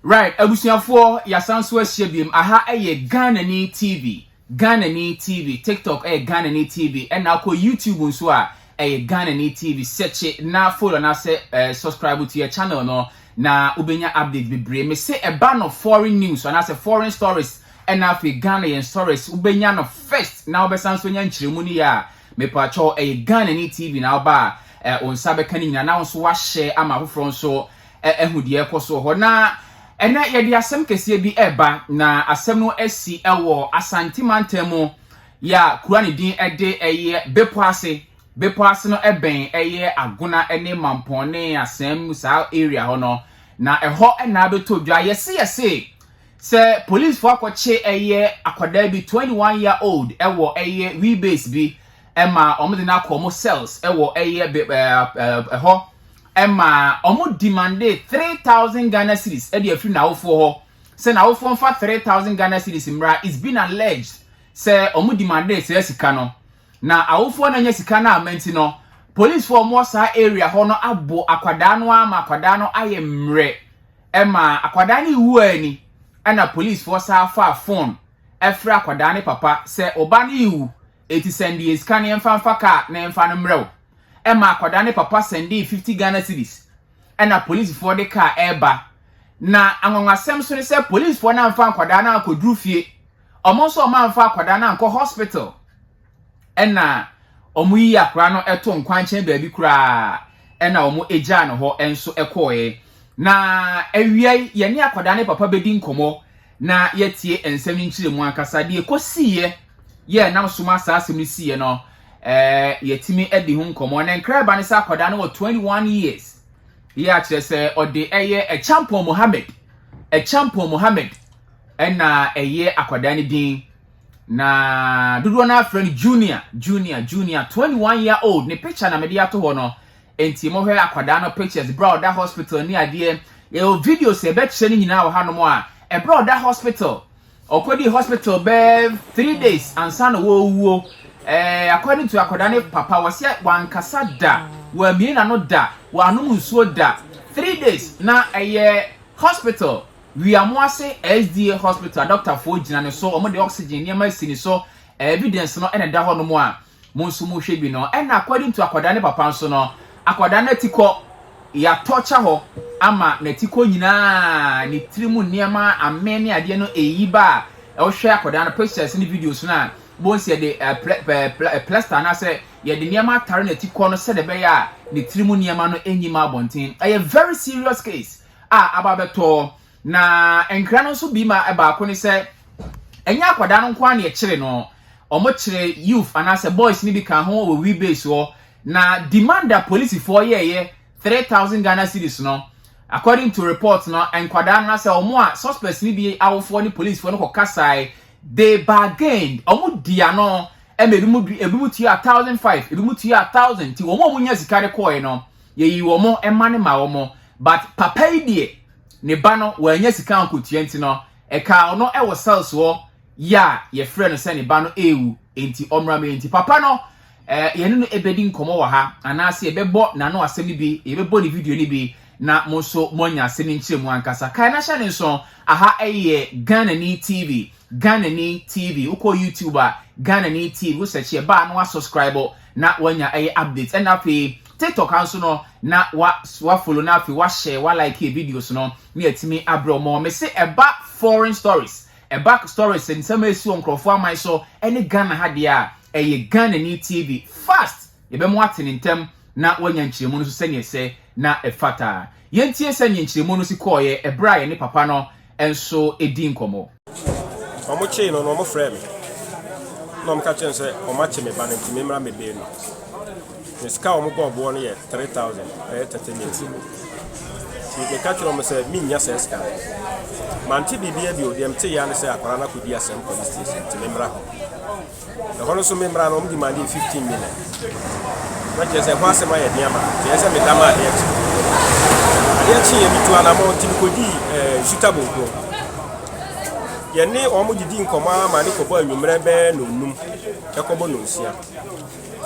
Right abusuafoɔ yasan so ahyia biom aha ɛyɛ Ghanani TV Ghanani TV tiktok ɛyɛ Ghanani TV ɛna akɔ YouTube nso a ɛyɛ Ghanani TV sɛkye na follow anaasɛ eh, subscribe to yɛ channel no na wobɛnya update bebree mese ɛba no foreign news anaasɛ foreign stories ɛna afei Ghana yɛn stories wobɛnya no first na wobɛsan so anya nkyerɛmu no yɛ a mepakyɛw ɛyɛ Ghanani TV na woba a eh, wo nsa bɛka no nyina na wo nso wahyɛ ama afoforɔ nso ahu deɛ ɛrekɔ soɔ hɔ. Na ɛnɛ yɛde asɛm kɛseɛ bi ɛreba na asɛm no asi ɛwɔ Asante mantam mu yɛ a kura ne din ɛde ɛyɛ bepɔ ase. Bepɔ ase no ɛbɛn ɛyɛ Agona ɛne Mampɔn ne Asɛm mu saa area hɔ no. Na ɛhɔ ɛna abɛtɔ dwa yɛse yɛse sɛ policefoɔ akɔkye ɛyɛ akwadaa bi 21 year old ɛwɔ ɛyɛ wheelbase bi ma wɔn de no akɔ wɔn cells wɔ ɛyɛ be ɛɛ ɛhɔ ma wɔn demande three thousand ghana cedis de afiri n'awofoɔ hɔ sɛ n'awofoɔ nfa three thousand ghana cedis mmra it's been alleged sɛ wɔn demande saa sika no na awofoɔ na nya sika no a ma nti no policefoɔ wɔn wɔ saa area hɔ no abo akwadaa no ama akwadaa no ayɛ mmerɛ ɛma akwadaa no ewu ani ɛna policefoɔ saa fa phone ɛfrɛ akwadaa ne papa sɛ ɔba no ewu Eti sɛnde yɛn sika no yɛmfa mfa kaa na yɛmfa no mmrɛ wo. Ɛma akwadaa no papa sɛndee fifty Ghana cedis. Ɛna polisfoɔ de kaa reba. Na anwanwasɛm so ne sɛ polisfoɔ no amfa nkwadaa no ankɔduru fie. Wɔn nso wɔamfa akwadaa no ankɔ hospital. Ɛna wɔyii akwadaa no too nkwankyɛn baabi koraa. Ɛna wɔgyaa no hɔ nso kɔeɛ. Na awia yi, yɛne akwadaa no papa bɛdi nkɔmmɔ. na yɛatie nsɛm nkyerɛmu ankasa. Deɛ ɛkɔsiiɛ yɛ a nam so ma saa asɛm no siiɛ no, ɛɛ yɛtumi adi ho nkɔmmɔ. Na nkra ba no sɛ akwadaa no wɔ 21 years. Yɛ akyerɛ sɛ ɔde ɛyɛ Ɛkyampɔn Mohammed. Ɛkyampɔn Mohammed ɛna ɛyɛ akwadaa no din. Na dodoɔ no afrɛ no Junior, Junior, Junior, 21 year old. Ne picture na mede ato hɔ no. Enti mo hwɛ akwadaa no pictures bere a ɔda hospital ne adeɛ. Yɛwɔ videos a yɛbɛkyerɛ no nyinaa wɔ hanom a ɛberɛ a ɔda hospital. Ɔkɔdii hospital bɛyɛ three days ansa na ɔrewuo. Ɛɛ according to akwadaa no papa wɔsɛ wankasa da, wamie n'ano da, wanom nsuo da. Three days na ɛyɛ hospital Wiamoase SDA hospital a doctorfoɔ gyina ne so, wɔde oxygen nneɛma asi ne so, evidence no na ɛda hɔnom a Mo nso mo hwɛ bi no ɛna according to akwadaa ne papa nso no akwadaa no atikɔ yatɔ kyɛ hɔ ama n'atikɔ nyinaa ne tiri mu nneɛma amee ne adeɛ no eyi ba a ɛhwɛ akwadaa no pictures ne videos no a bɔn si yɛde plaster anaasɛ yɛde nneɛma atare n'atikɔ no sɛdeɛ ɛbɛyɛ a ne tiri mu nneɛma no enyi ma abɔnten ɛyɛ very serious case a aba abɛtɔ Na nkra no nso bi ma baako ne sɛ ɛnyɛ akwadaa no nko ara na ɛkyere no, wɔkyere youth anaasɛ boys no bi ka ho wɔ wheel base hɔ. Na demand a polisifoɔ yɛɛyɛ three thousand Ghana cedis no, according to report no, nkwadaa no anaasɛ wɔn a suspects no bi awofoɔ ne polisifoɔ no kɔkasae, they bargained, wɔdi ano ma ebinom ebinom tuaa thousand five, ebinom tuaa thousand, nti wɔn a wɔnya sika de kɔɔe no, yɛyi wɔn mma no ma wɔn, but papa yi deɛ ne ba no wannya sika ankotua nti no, ɛkaa ɔno wɔ cells hɔ yɛ a yɛfrɛ no sɛ ne ba no ɛrewu nti ɔmmra me nti papa no eh, yɛne no ɛbɛdi nkɔmmɔ wɔ ha anaasɛ yɛbɛbɔ n'ano asɛm no bi yɛbɛbɔ ne video no bi na mo nso moanya asɛm no nkyerɛ mu ankasa kae na hyɛ ne nso aha ɛyɛ Ghana ni TV Ghanani TV, wokɔ YouTube a, Ghanani TV, wo search yɛ baa na wa subscribe na wanya ɛyɛ update. Ɛna afei TikTok anso no na wa wa follow na afei wa share, wa like videos no ne atumi abrɛ ɔmo. Me se ɛba foreign stories, ɛba stories nsɛm a esi wɔ nkorɔfoɔ aman so ɛne Ghana ha deɛ a, ɛyɛ Ghanani TV. Fast! Yɛbɛma wate ne ntɛm na wanya nkyerɛmu no so sɛdeɛ ɛsɛ na ɛfata. Yɛntie sɛdeɛ nkyerɛmu no si kɔɔeɛ ɛberɛ a yɛne papa no nso di nkɔmmɔ. Wɔkyee no no, wɔfrɛɛ me na wɔka kyerɛɛ me sɛ wɔakye me ba no nti memmra mmɛbɛn no. Na sika a wɔbɔɔ boɔ no yɛ 3,000, ɛyɛ 30 million. Nti meka kyerɛɛ wɔn sɛ mennya saa sika no. Mante biribiara bio, deɛ metee ara ne sɛ akwadaa no akɔdi asɛm police station nti memmra hɔ. Ɛhɔ no nso me mmara no wɔn demande yɛ fifteen million. Na kyerɛ sɛ ɛho asɛm ayɛ den ama me. Kyerɛ sɛ me da ma adeɛ kye. Adeɛ kye yɛ me tu anamɔ nti me kɔdii ɛɛ eh, Nsuta Bonko. Yɛne wɔn didi nkɔmɔ ara ma ne kɔbɔ anwummerɛ bɛɛ no num ɛkɔbɔ no nsia.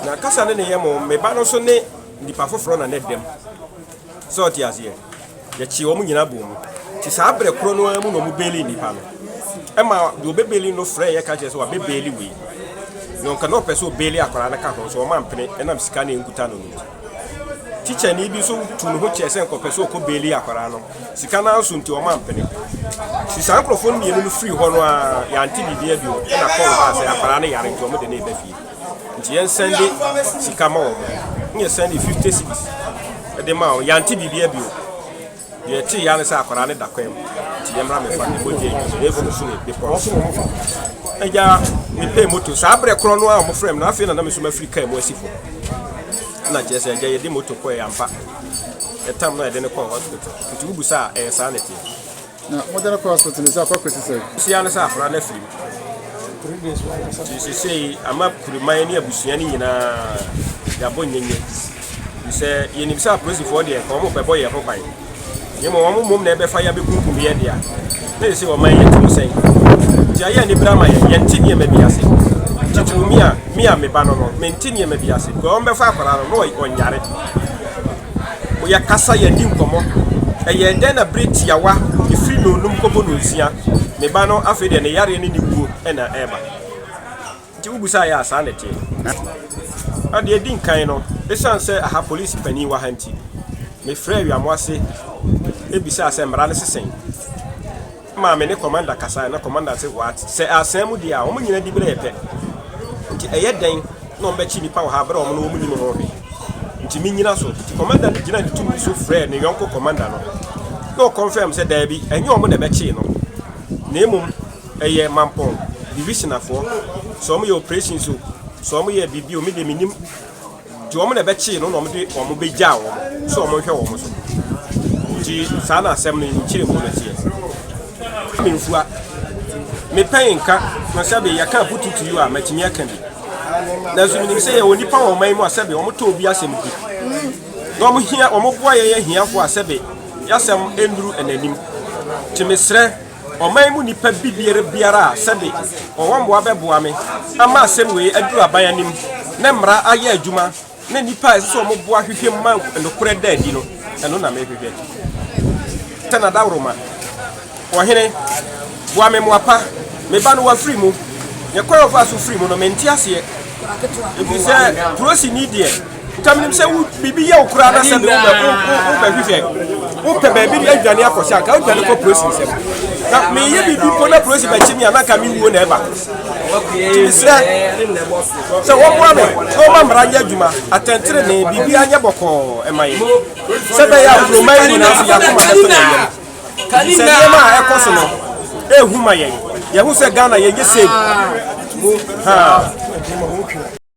Na kasa ne ne yɛ mo me ba no nso ne nipa foforɔ na ne dɛm. So ɔte aseɛ? Yɛkyee wɔn nyinaa bɔɔ mu. Nti saa berɛ korɔ no ara mu na wɔbeeli nnipa no. Ɛma deɛ ɔbɛbeeli no frɛɛ yɛ ka kyerɛ sɛ wabɛbeeli wei. Na ɔnka na ɔpɛ sɛ ɔbeeli akwadaa no ka ho nso wɔn ampene ɛnam sika na ɛnkuta no no nti. Tikyani bi nso tu ne ho kyɛɛ sɛ nka ɔpɛ sɛ ɔkɔ beeli akwadaa no. Sika no ara nso nti wɔn ampene. Nti saa nkorɔfoɔ no mmienu no firii hɔ no ara yɛante biribiara bio ɛna kɔɔl baa sɛ akwadaa no yare nti wɔn de no reba fie. nti yɛn sɛnde sika ma wɔn ne yɛ sɛnde fifty cities ɛde ma wɔn yante biribi abio deɛ ɛte ya ne sɛ akwadaa ne da kwan mu nti yɛn mmerɛ mefa ne mogya yi so yɛn funu so ne bepɔ so ɛgya mepɛ moto saa berɛ korɔ no a wɔn frɛ mu na afei na nam nso mafiri kaa mu asi fo na kyerɛ sɛ ɛgya yɛde moto kɔɛ ampa ɛtam na yɛde ne kɔɔ hospital nti wobu saa ɛyɛ saa ne teɛ Na modern kɔ hospital no sɛ akɔakɔ si sɛn? Sia no sɛ akwadaa no afiri mu. Nti sesei ama kuriman ne abusua no nyinaa yɛabɔ nyenye. Firi sɛ yɛnim sɛ apolisifoɔ deɛ nka wɔn bɛbɔ yɛn ho ban. Na mmom wɔn mmom na ɛbɛfa yɛn abɛkunkum yɛn dea. Na sesei ɔman yɛte mu sɛn? Nti ayɛ anibere ama yɛn. Yɛnte nneɛma bi ase. Titiriw me a me a me ba no no, mente nneɛma bi ase. Because wɔbɛfa akwadaa no na ɔnyare. Yɛkasa, yɛdi nkɔmmɔ. Ɛyɛɛ dɛn na bere tiawa firi ne onom kɔbɔ no nsua? Ne ba no afei deɛ ne yareɛ ne ne wuo na ɛreba. Nti wobusaeɛ a, saa na ɛteɛ. Na deɛ ɛdi nkan no, ɛsiane sɛ aha polisi panin wɔ ha nti, mefrɛɛ Wiamoase bisaa sɛ mmara no se sɛn. maa me ne Commander kasae, na Commander se wɔat sɛ aasɛɛ mo deɛ a, wɔn nyina diberɛ yɛ pɛ, nti ɛyɛ dɛn na wɔn bɛkye nnipa wɔ ha berɛ a wɔn ne wɔn nnim ho hwɛ, nti me nyina so. Nti Commander no gyinaa ne tumi so frɛɛ ne yɔnko Commander no, na ɔconfirm sɛ daabi, ɛnyɛ wɔn na ɛbɛkyee no, na mmom ɛyɛ Mampong Divisionafoɔ, sɛ wɔn yɛ operations o, sɛ wɔn yɛ biribi o, me deɛ mennim. Nti wɔn na ɛbɛkyee no na wɔde wɔn bɛgyaa wɔn sɛ wɔnhwɛ wɔn so. Nti saa na asɛm no nkyerɛmu no teɛ. Kwame Mfua, Mepɛn nka no sɛbe yɛka aputu to you a matumi aka bi. Nanso menim sɛ yɛwɔ nnipa wɔ ɔman yi mu a sɛbe wɔtɔ obi asɛm di na wɔhia wɔboa yɛn ahiafoɔ a sɛbe yɛasɛm nnuru n'anim. Nti mesrɛ. ɔman mu nipa bi biara biara a sɛbe ɔwɔ mboa bɛboa me ama asɛm wei aduru aban anim ne mmara ayɛ adwuma ne nipa a ɛsɛ sɛ ɔmo boa hwehwɛ mu ma nokorɛ da adi no ɛno na me hwehwɛ tɛ na dawroma ɔhene boa me mmoa pa me ba no wafiri mu yɛ kwan ɔfa so firi mu no mente aseɛ ɛfiri sɛ kuro si ni deɛ Nka menim sɛ wo biribi yɛ wo koraa na sɛ deɛ wobɛhwehwɛ wopɛ baabi de adwane akɔhyɛ anka wodwane kɔ polisi nsɛm na meyɛ biribi mpo na polisi bɛkye me a na anka mewuo na ɛba nti mesrɛ sɛ wɔboa me na wɔma mmara nyɛ adwuma atɛntenene biribi anyɛ bɔkɔɔ ɛma yɛ sɛ bɛyɛ a kuroma yi nyinaa so yɛakoma bɛtɔ yɛn yɛm sɛ nneɛma a ɛkɔ so no ɛhu ma yɛn yɛho sɛ ghana yɛnyɛ save ha